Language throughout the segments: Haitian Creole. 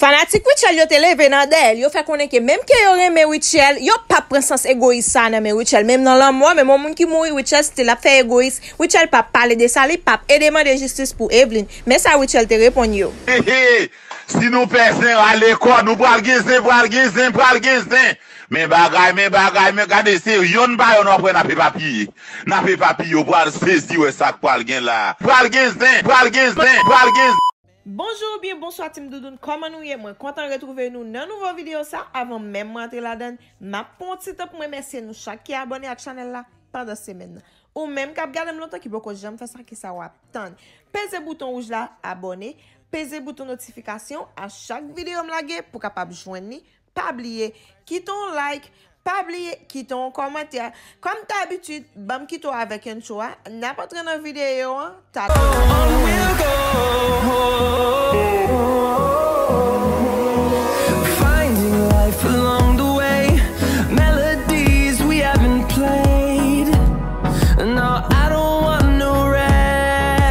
Fanatik Rutshelle yo te leve nan dèyèl yo fè konnen ke menm ke yo renmen Rutshelle yo pap pran sans egoyis sa nan men Rutshelle menm nan lanmò menm yon moun ki mouri Rutshelle still ap fè egoyis Rutshelle pap pale de sa li pap ede mande jistis pou Evelyne men sa Rutshelle te reponn yo. Hehe si nou pè zen rale kò nou pral gen zen pral gen zen pral gen zen men bagay men bagay men gade se yonn pa yonn wap wè nap epapiye nap epapiye ou pral sezi wè sak pral gen la pral gen zen pral gen zen pral gen zen. Bonjour ou byen bonswa team Doudoune kòman nou ye mwen kontan retrouve nou nan nouvo video sa avan menm mwen antre ladann map pran yon ti tan poum remèsye nou chak ki abòne ak chanèl la pandan semèn nan ou menm kap gadem lontan ki poko janm fè sa kisa wap tann peze bouton wouj la abòne peze bouton notifikasyon a chak videom lage pou kapab jwenn li Pa bliye Kite yon like Pa bliye Kite yon kòmantè Kòm dabitid Banm kite w avèk intro a Nap antre nan videyo an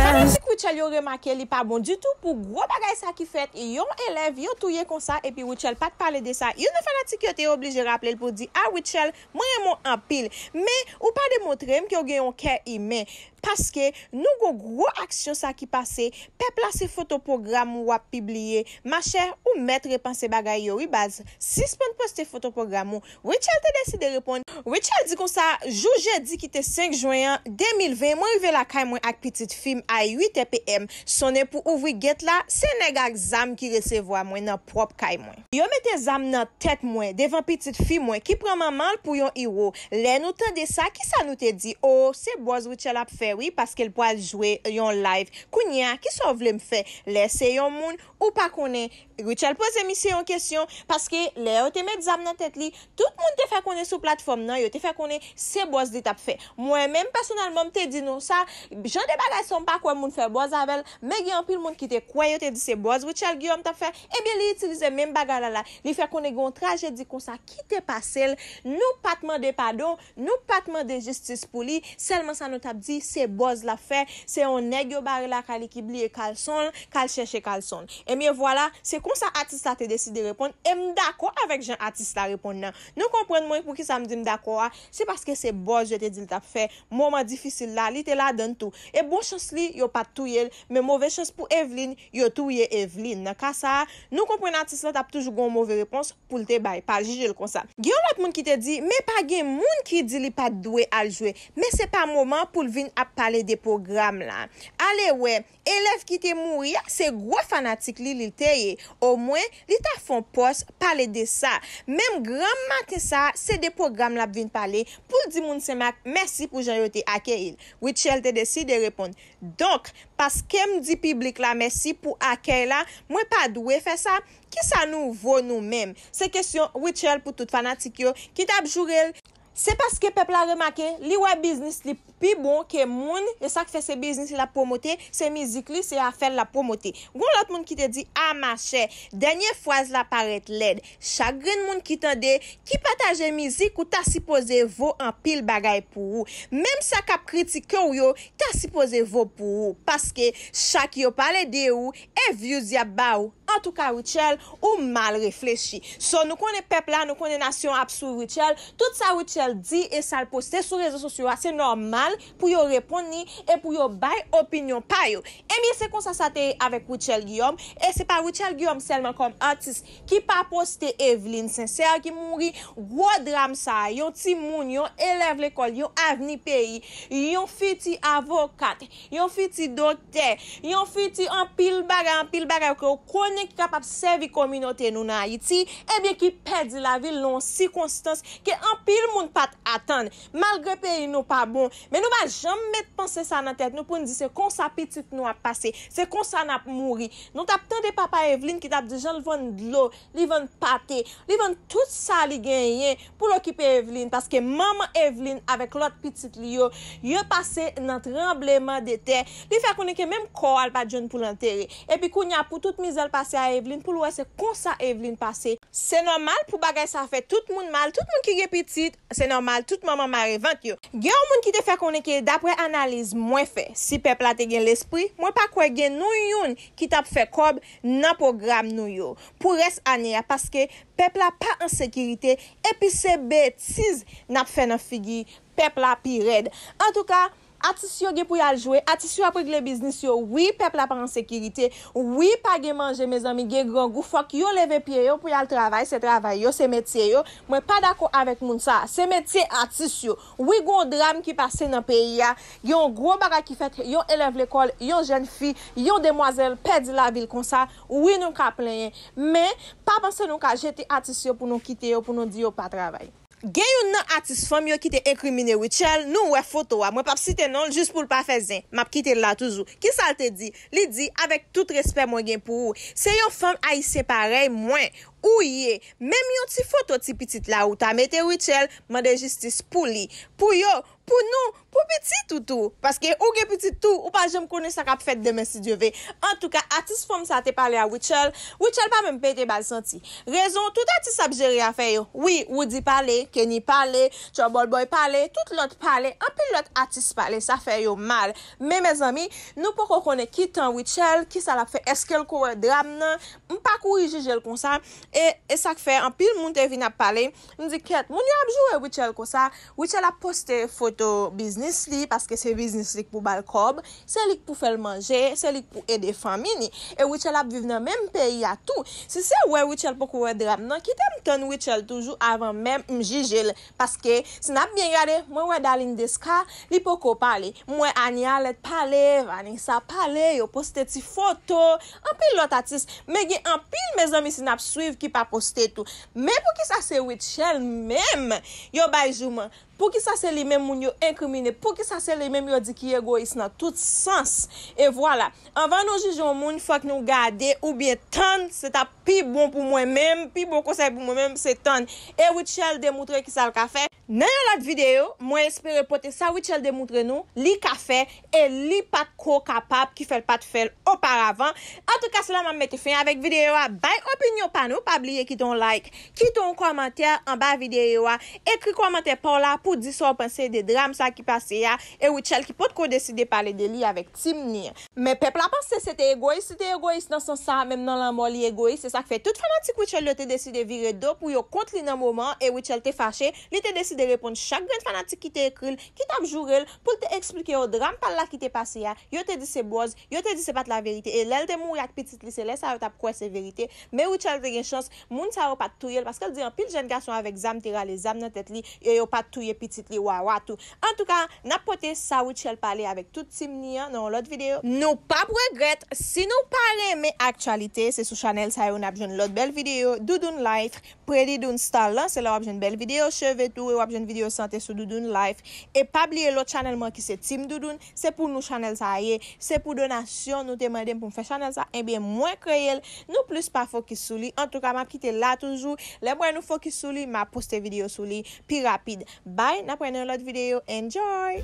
Fanatik Rutshelle yo remake li pa bon ditou pou gwo bagay sa ki fèt yon elèv yo touye konsa epi Epi Rutshelle pat pale de sa. Youn nan fanatik yo te oblije raple l pou di, A Rutshelle, mwen renmen w anpil, men ou pa demontre m ke w gen yon kè imen. Paske nou gon gwo aksyon sa ki pase, pèp la se foto pwogram ou w ap pibliye. Machè, ou mèt repanse bagay yo wi baz. Sispann poste foto pwogram ou. Rutshelle te deside reponn. Rutshelle di konsa, Jou jedi ki te 5 jwen an, 2020, mwen rive lakay mwen ak pitit fi m a 8 è PM. Sonnen pou ouvri gèt la, se nèg ak zam ki resevwa mwen nan pwòp kay mwen. Yo mete zam nan tèt mwen, devan pitit fi mwen, ki pran manman l pou yon iro. Lè nou tande sa, ki sa nou te di? O, se bòz Rutshelle ap fè wi, paske l pral jwe yon live. Kounye a, ki sa w vle m fè? Lè se yon moun, Ou pa konnen Rutshelle poze misye yon kesyon, paske lè yo te met zam nan tèt li, tout moun te fè konnen sou platfòm nan, yo te fè konnen se bòz li tap fè. Mwen menm pèsonèlman m te di nou sa, jan de bagay sa m pa kwè moun fè bòz avèl, men gen anpil moun ki te kwè yo te di se bòz Rutshelle Guillaume tap fè, ebyen li itilize menm bagay la la, li fè konnen gen yon trajedi konsa kite pasel, nou pat mande padon, Nou pat mande jistis pou li, sèlman sa nou tap di se bòz lap fè, se yon nèg yo bare lakay li ki bliye kalson l, kal chèche kalson l. Ebyen vwala, se konsa atis la te deside reponn e m dakò avèk jan atis la reponn nan. Nou konprann mwen poukisa m di m dakò a, se paske se bòz yo te di l tap fè, moman difisil la li te ladan l tou. E bon chans li yo pat touye l, men move chans pou Evlin, yo touye Evlin. Nan ka sa, nou konprann atis la tap toujou gon move repons, pou l te bay, pa jije l konsa. Gen yon lòt moun ki te di, men pa gen moun ki di li pa t dwe al jwe, men se pa moman pou l vin ap pale de pwogram la. Alewè, elèv ki te mouri a, se gwo fanatik li li te ye, omwen, li ta fè yon pòs pale de sa. Menm granm maten sa a, se de pwogram l ap vin pale, pou l di moun Senmak mèsi pou jan yo te akeyi l. Rutshelle te deside reponn, Donk, paske m di piblik la mèsi pou akèy la, mwen pa dwe fè sa? Kisa nou vo nou menm? Se kesyon Rutshelle pou tout fanatik yo ki tap joure l. Se paske pèp la remake li wè biznis li pi bon ke moun, e sak fè se biznis li lap pwomote, se mizik li, se afè l lap pwomote. Gon lòt moun ki te di ah ma chè, dènye fraz la parèt lèd. Chak grenn moun ki tande, ki pataje mizik ou ta sipoze vo anpil bagay pou ou. Menm sa kap kritike w yo ta sipoze vo pou ou, paske chak yo pale de ou E views yap ba ou. Antouka Rutshelle ou mal reflechi. So nou konnen pèp la, nou konnen nasyon an ap swiv Rutshelle. Tout sa Rutshelle di e sal poste sou rezo sosyo a se nòmal pou yo reponn li e pou yo bay opinyon pa yo. Ebyen se konsa sa te ye avèk Rutshelle Guillaume e se pa Rutshelle Guillaume sèlman kòm atis ki pa poste Evelyne Sincère ki mouri. Gwo dram sa a yon timoun, yon elèv lekòl, yon avni peyi, yon fiti avokat, Yon fiti doktè. Yon fiti anpil bagay, anpil bagay ke ou konnen ki kapab sèvi kominote nou nan Ayiti, ebyen ki pèdi lavi l nan yon sikonstans ke anpil moun pa t atann. Malgre peyi nou pa bon, men nou pa janm met panse sa nan tèt nou pou n di se konsa pitit nou ap pase, se konsa n ap mouri. Nou t ap tande papa Evlin ki t ap di jan l vann dlo Li vann pate, li vann tout sa li genyen pou l okipe Evlin paske manman Evlin avèk lòt pitit li yo, yo pase nan tranbleman de tè, li fè konnen ke menm kò a l pa t jwenn pou l antere. Epi kounye a pou tout mizè l pase a Evlin pou l wè se konsa Evlin pase. Se nòmal pou bagay sa fè tout moun mal, tout moun ki gen pitit, Se nòmal tout manman mare vant yo. Gen yon moun ki te fè konnen ke daprè analiz mwen fè, si pèp la te gen lespri, mwen pa kwè gen nou youn ki t ap fè kòb nan pwogram nou yo pou rès ane a paske pèp la pa an sekirite epi se betiz n ap fè nan figi pèp la pi rèd. Antouka. Atis yo gen pou yal jwe, atis yo ap regle biznis yo wi pèp la pa ansekirite wi pa gen manje mezanmi gen grangou fòk yo leve pye yo pou yal travay se travay yo se metye yo mwen pa dakò avèk moun sa se metye atis yo wi gon dram ki pase nan peyi a gen yon gwo bagay ki fèt yon elèv lekòl yon jèn fi yon demwazèl pèdi lavil konsa wi nou ka plenyen men pa panse nou ka jete atis yo pou nou kite yo pou nou di yo pa travay. Gen youn nan atis fanm yo ki te enkrimine Rutshelle, nou wè foto a, mwen pap site non l jis pou l pa fè zen, map kite l la toujou. Kisa l te di? Li di, avèk tout respè mwen gen pou ou, se yon fanm ayisyen parèy mwen ou ye, menm yon ti foto ti pitit la ou ta mete Rutshelle, mande jistis pou li. Pou yo, Pou nou, pou pitit ou tou. Paske ou gen pitit tou, ou pa janm konnen sa kap fèt demen si Dye ve. Antouka atis fanm sa te pale a Rutshelle, Rutshelle pa menm pete bal santi. Rezon, tout atis ap jere afè yo. Wi, Roody pale, Kenny pale, Trouble Boy pale, tout lòt pale, anpil lòt atis pale, sa fè yo mal. Men mezanmi, nou poko konnen ki tan Rutshelle, ki sa lap fè, eskel ko wè dram nan, m pa kouri jijel konsa, e, e sak fè anpil moun te vin ap pale, m di kèt, moun yo ap joure Rutshelle konsa, Rutshelle ap poste foto biznis li paske se biznis li k pou bal kòb, se li k pou fèl manje, se li k pou ede fanmi li. E Rutshelle ap viv nan menm peyi a tou. Si se wè Rutshelle poko wè dram nan, kitem tann Rutshelle toujou avan menm m jijel paske si nap byen gade mwen wè Darline Desca li poko pale, m wè Anie Alerte pale, Vanessa pale, yo poste ti foto, anpil lòt atis, men gen anpil mezanmi si nap swiv ki pa poste tou. Men poukisa se Rutshelle menm yo bay jouman? Poukisa se li menm moun yo enkrimine? Poukisa se li menm yo di ki egoyis nan tout sans? E vwala, anvan nou jije yon moun fòk nou gade oubyen tann, se t ap pi bon pou mwen menm, pi bon konsèy pou mwen menm se tann e Rutshelle demoutre ki sa l ka fè, Nan yon lòt videyo, mwen espere pote sa Rutshelle demoutre nou li ka fè e li pa t ko kapab ki fè l pa t fè l oparavan. Antouka se la m ap mete fen avèk videyo a. Bay opinyon pa nou, pa bliye kite yon like, kite yon kòmantè anba videyo a, ekri kòmantè pa w la pou w di sa w panse de dram sa ki pase a e Rutshelle ki potko deside pale de li avèk nou. Team ni. Men pèp la panse se te egoyis li te egoyis nan sans sa a menm nan lanmò li egoyis se sak fè tout fanatik Rutshelle yo te deside vire do pou yo kont li nan moman an e Rutshelle te fache li te deside reponn chak grenn fanatik ki te ekri l ki tap joure l pou l te eksplike yo dram pa l la ki te pase a yo te di se bòz yo te di se pat laverite e lè l te mouri ak pitit li se lè sa yo tap kwè se verite men Rutshelle te gen chans Moun sa yo pat touyel paskel di anpil jèn gason avèk zam te rale zam nan tèt li e yo pat touye pitit li Wawa tou. Antouka nap pote sa Rutshelle pale avèk tout team ni an nan yon lòt video. Nou pap regrèt, si nou pa renmen aktyalite se sou chanèl sa yo nap jwenn lòt bèl video Doudoune Life, Pretty Doune Style lan se la wap jwenn bèl video cheve tou e wap jwenn video sante sou Doudoune Life e pa bliye lòt chanèl mwen ki se Team Doudoune Se pou nou chanèl sa a ye, se pou donasyon nou te mande m pou m fè chanèl sa, ebyen mwen kreye l, nou plis pa fokis sou li, antouka m ap kite la toujou, lè m wè nou fokis sou li m a poste videyo sou li pi rapid. Bye, n ap wè nan yon lòt videyo, enjoy!